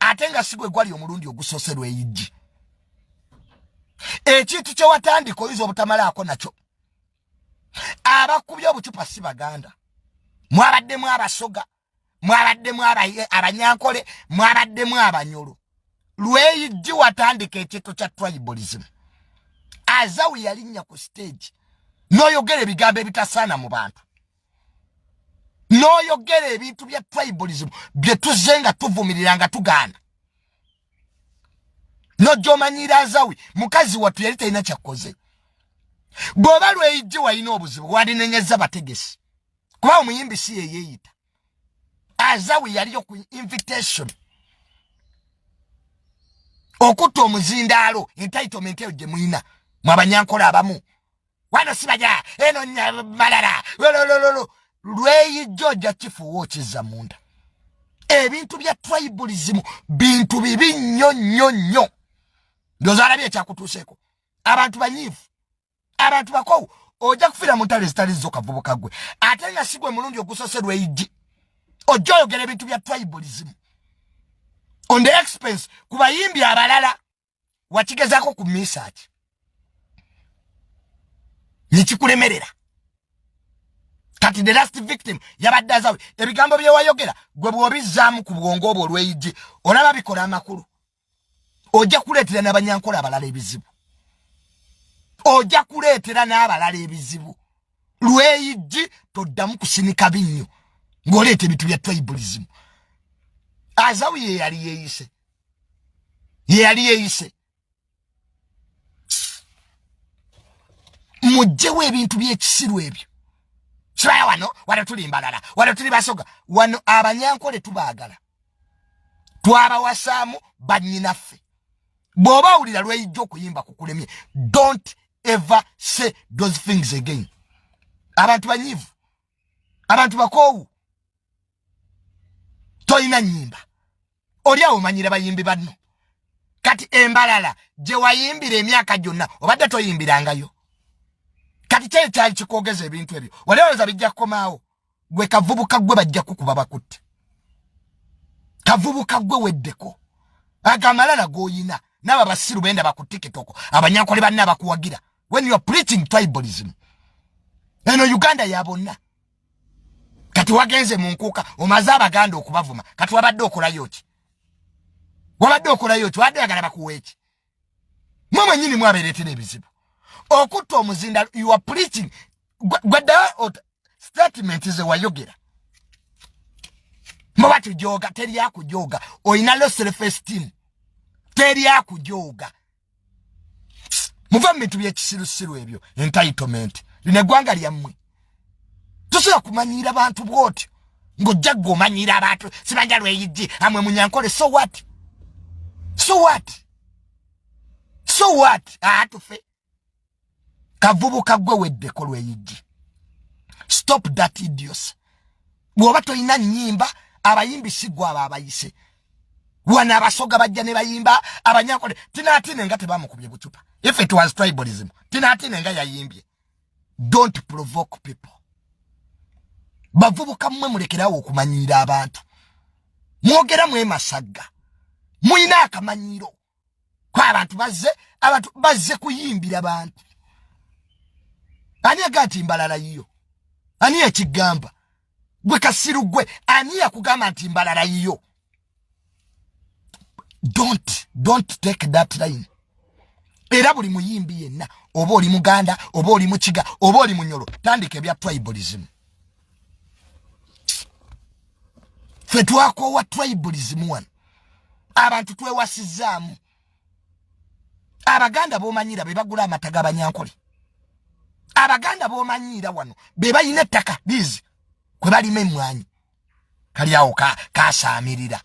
ate nga si gwe gwali omulundi ogusoose lweyijji ekintu kye watandika oyinza obutamalaako nakyo abakubye obucupa si baganda mwabaddemu abasoga mwabaddemu abanyankole mwabaddemu abanyolo lweyijji watandika ekintu kya tribalism azawu yalinnya ku stage noyogera ebigambo ebitasaana mu bantu n'oyogera ebintu bya tribalism bye tuzze nga tuvumirira nga tugaana nojomanyira azawi mukazi wattu yali talina kyakkoze bw'oba lweyijje walina obuzibu walinenyeza bategesi kuba omuyimbi si yeyeeyita azawi yaliyo ku invitation okutta omuzindaalo entitlement eyo gye mulina mwabanyankola abamu wano sibaja eno malala lolololo lweyijja ojja kifuuwa okizza munda ebintu bya tribalism bintu bibi nnyo nnyo nnyo ndyoza alabye ekyakutuuseeko abantu banyiivu abantu bakowu ojja kufiira mu ntalo ezitali zo kavubuka gwe ate nga si gwe mulungi ogusose lweyijji ojja oyogera ebintu bya tribalism on the expense ku bayimbi abalala wakigezako ku misaki nekikulemerera kati the last victim yabadde azawe ebigambo byewayogera gwe bwobizzaamu ku bwongo obwo olweyijje olaba bikola amakulu ojja kuleetera n'abanyankola abalala ebizibu ojja kuleetera n'abalala ebizibu lweyijji toddamu kusinika binnyo ng'oleeta ebintu bya tribalism azawi ye yali yeeyise yeyali yeyise mujjewo ebintu byekisiru ebyo kibaya wano wano tuli mbalala wano tuli basoga wano abanyankole tubagala twabawasaamu banyinaffe bwoba awulira lweyijja okuyimba kukulemye don't ever say those things again abantu banyivu abantu bakoowu tolina nyimba oli awo manyira bayimbi banno kati embalala gye wayimbira emyaka gyonna obadde toyimbirangayo kati kyeyo kyali kikwogeza ebintu ebyo walewooza bijja kukomaawo gwe kavubuka gwe bajja kukuba bakutte kavubuka gwe weddeko agamalala goyina naabo abasiru benda bakutikitoko abanyankole banna abakuwagira when youare preaching tribalism eno uganda ya bonna kati wagenze mu nkuuka omaze abaganda okubavuma kati wabadde okolayo ki wabadde okolayo ki wabadde oyagala bakuwa eki mwe mwenyini mwabeeretera ebizibu okutta omuzinda you are preaching gweddayo statement ze wayogera mwe batujooga teri akujooga olina lo self esteem teri akujooga muva mu bintu byekisirusiru ebyo entitlement lino eggwanga lyammwe tosobola kumanyiira bantu bwotyo ng'ojja gwe omanyiira abantu sibanja lweyijji amwe munyankole so what so what so what atufe kavubuka gwe weddeko lweyijji stop that idios bwoba tolina nyimba abayimbi sigwa abo abayise wana abasoga bajja ne bayimba abanyankole tinatine nga tebamukubye bucupa if it was tribalism tinatine nga yayimbye don't provoke people bavubuka mmwe mulekerawo okumanyiira abantu mwogera mwemasagga mulina akamanyiiro kwa abantu bazze abantu bazze kuyimbira bantu ani agati mbalala yiyo ani ekigamba gwe kasiru gwe ani yakugamba nti mbalala yiyo don't don't take that line era buli muyimbi yenna oba oli muganda oba oli mukiga oba oli munyolo tandika ebya tribalism ffe twakoowa tribalism wano abantu twewasizaamu abaganda bomanyiira be bagula amata gabanyankole abaganda bomanyiira wano be balina ettaka bizi kwe balima emmwanyi kali awo kasaamirira ka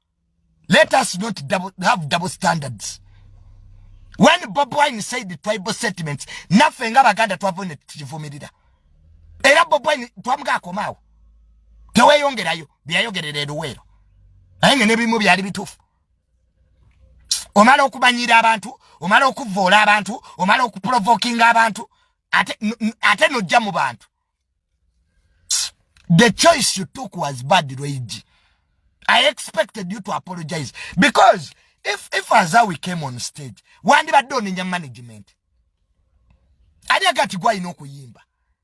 Let us not double, have double standards. When Bob Wine said the tribal statements, nothing about Ganda Twavone Tivumida. Era Bob Wine Twamga Komao. Tewe yongera yo, biya yongera edo wero. Aenge nebi mubi yari bitufu. Omalo kubanyira abantu, omalo kuvola abantu, omalo kuprovokinga abantu. Ate, ate no jamu bantu. the choice you took was bad Luigi I expected you to apologize because if if Azawi came on stage wandibadde onenya management ani agati gwalina okuyimba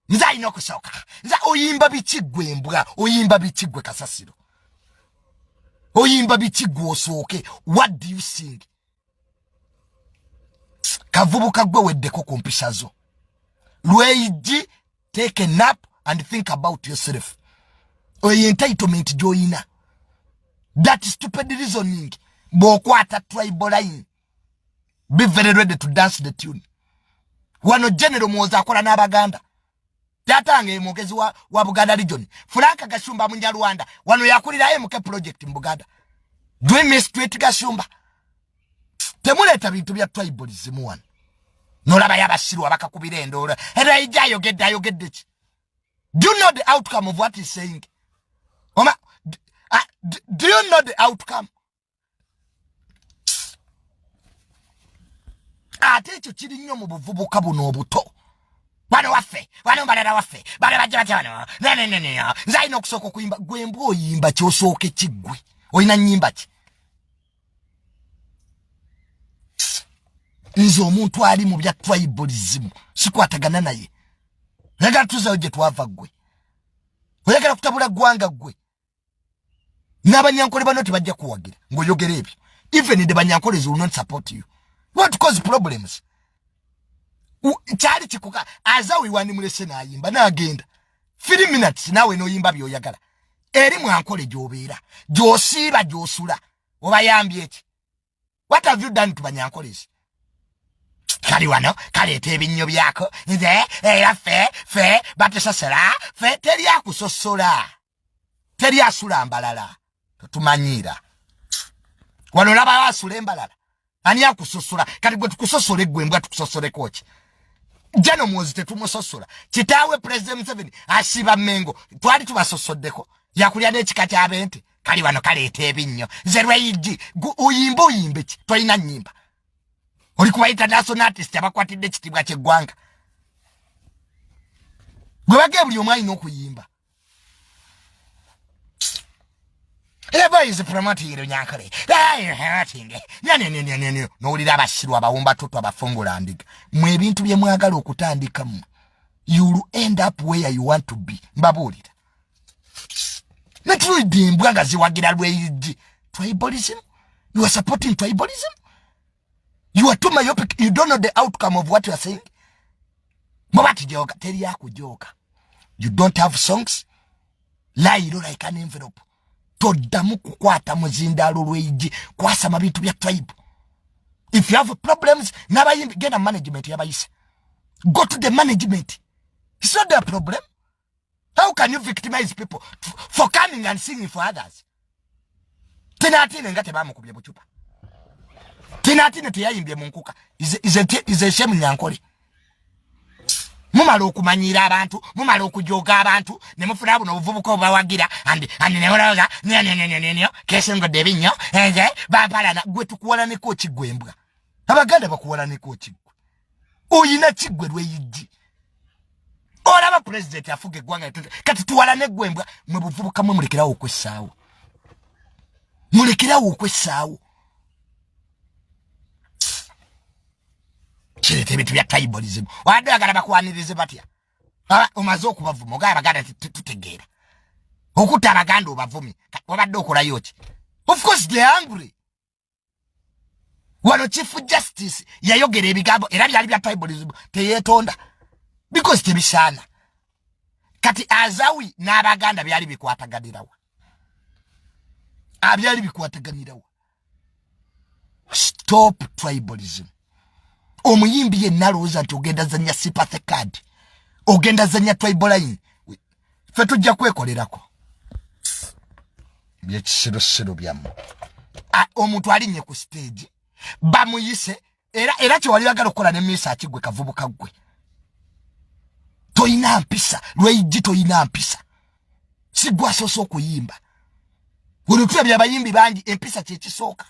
nze alina okusooka nze oyimba biki gwe embwa oyimba biki gwe kasasiro oyimba biki gwe osooke what do you sing kavubuka gwe weddeko ku mpisa zo lweyiji take a nap and think about yourself oyo entitlement gyoyina that stupid reasoning bwokwata tribal line be very ready to dance the tune wano general muwoza akola n'abaganda Tata ange mwogezi wa, wa Buganda region. Frank Gashumba Munyarwanda. Wano yakulira MK project in Buganda. Do you miss Tweet Gashumba? Temuleta bintu bya tribalism wano. Nolaba yabasiru abakakubira endola. Era ija ayogedde ayogedde ki? Do you know the outcome of what he's saying? Oma, do, uh, do you know the outcome? ate ekyo kiri nnyo mu buvubuka buno obuto bano waffe bano mbalala waffe bano bajja batya bano neneneneyo nze alina okusooka okuyimba gwe mbwa oyimba kyosooke kiggwe olina nyimba ki nze omuntu ali mu bya tribalism sikwatagana naye nagala tuzayo gye twava ggwe oyagala kutabula ggwanga ggwe n'abanyankole bano tebajja kuwagira ng'oyogera ebyo even the banyankole will not support you what cause problems kyali kikuka azawi wandimulese n'ayimba n'agenda three minutes naawe n'oyimba by'oyagala eri mwankole gy'obeera gy'osiiba gy'osula obayambye eki what have you done to banyankolesi kali wano kaleeta ebinnyo byako nze era fe fe batusasala fe teri akusosola teri asula mbalala totumanyiira wano olabawo asula embalala ani akusosola kati gwe tukusosole gwe mbwa tukusosoleko ki jano mwozi tetumusosola kitaawe president museveni asiba mengo twali tubasosoddeko yakulya n'ekika ky'abente kali wano kaleeta ebinnyo nze lweyigi uyimba oyimba ki tolina nyimba oli kuba international artist abakwatidde ekitiibwa kyeggwanga gwe bagee buli omu alina okuyimba nowulira abasiru abawumba toto abafungula ndiga mwe ebintu byemwagala okutandikamu youll end up where you want to be mbabuulira netulidde embwa nga ziwagira lweyiddi tribalism you are supporting tribalism you are too myopic you don't know the outcome of what you are saying muba tijooka teri yakujooka you don't have songs layiro like an envelope toddamu kukwata muzindaalo lweyiddi kwasama bintu bya tribe if you have problems nabayimbi genda management yabayisa go to the management it's not their problem how can you victimize people for coming and singing for others tinatine nga tebamukubye bucupa tinatine teyayimbye munkuka ize shemu nyankole mumala okumanyiira abantu mumala okujoga abantu ne mufuna buno obuvubuka obubawagira andi andi ne mulowooza nyo nyo nyo nyo nyo kesingodde ebinnyo enze bampalana gwe tukuwalaneko ki gwe embwa abaganda bakuwalaneko ki oyina kigwe lweyijji olaba president afuga eggwanga kati tuwalane gwembwa mwe buvubuka mwe mulekerawo okwessaawo mulekerawo okwessaawo kireeta ebintu bya tribalism wadde bagala bakwanirize batya omaze okubavuma ogaba baganda tutegeera okutta abaganda obavumi wabadde okolayo ki of course the angry wano chief justice yayogera ebigambo era byali bya tribalism teyetonda because tebisana kati azawi n'abaganda byali bikwataganirawa abyali ah, bikwataganirawa stop tribalism omuyimbi yenna alowooza nti ogenda zanya sympathy card ogenda zanya tribaline fe tujja kwekolerako byekisirusiru byamu omuntu alinye ku stage bamuyise era era kyewali bagala okukola ne miisa akigwe kavubuka gwe toyina mpisa lweijji toyina mpisa sigwasoose okuyimba olutula byabayimbi bangi empisa kyekisooka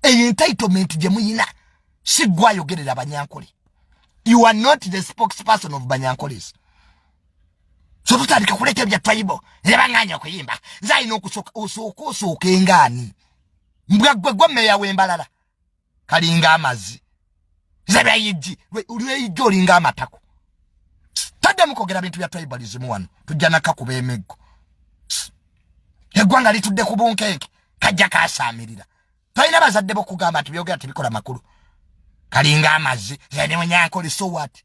eyo entitlement gye muyina sigwayogerera banyankole you are not the spokesperson of banyankoles so tutandika kuleta ebya twayibo nebanganya okuyimba nze alina okusooka osooka engaani mbwa gwe gwe meya wembalala kalinga amazi nze byayijji lweyijja olinga amatako taddamu kwogera bintu bya tribalism wano tujja nakakuba emiggo eggwanga litudde ku bunkeeke kajja kasaamirira tolina bazadde bokugamba nti byogera tebikola makulu kalinga amazzi zanewenyankole so what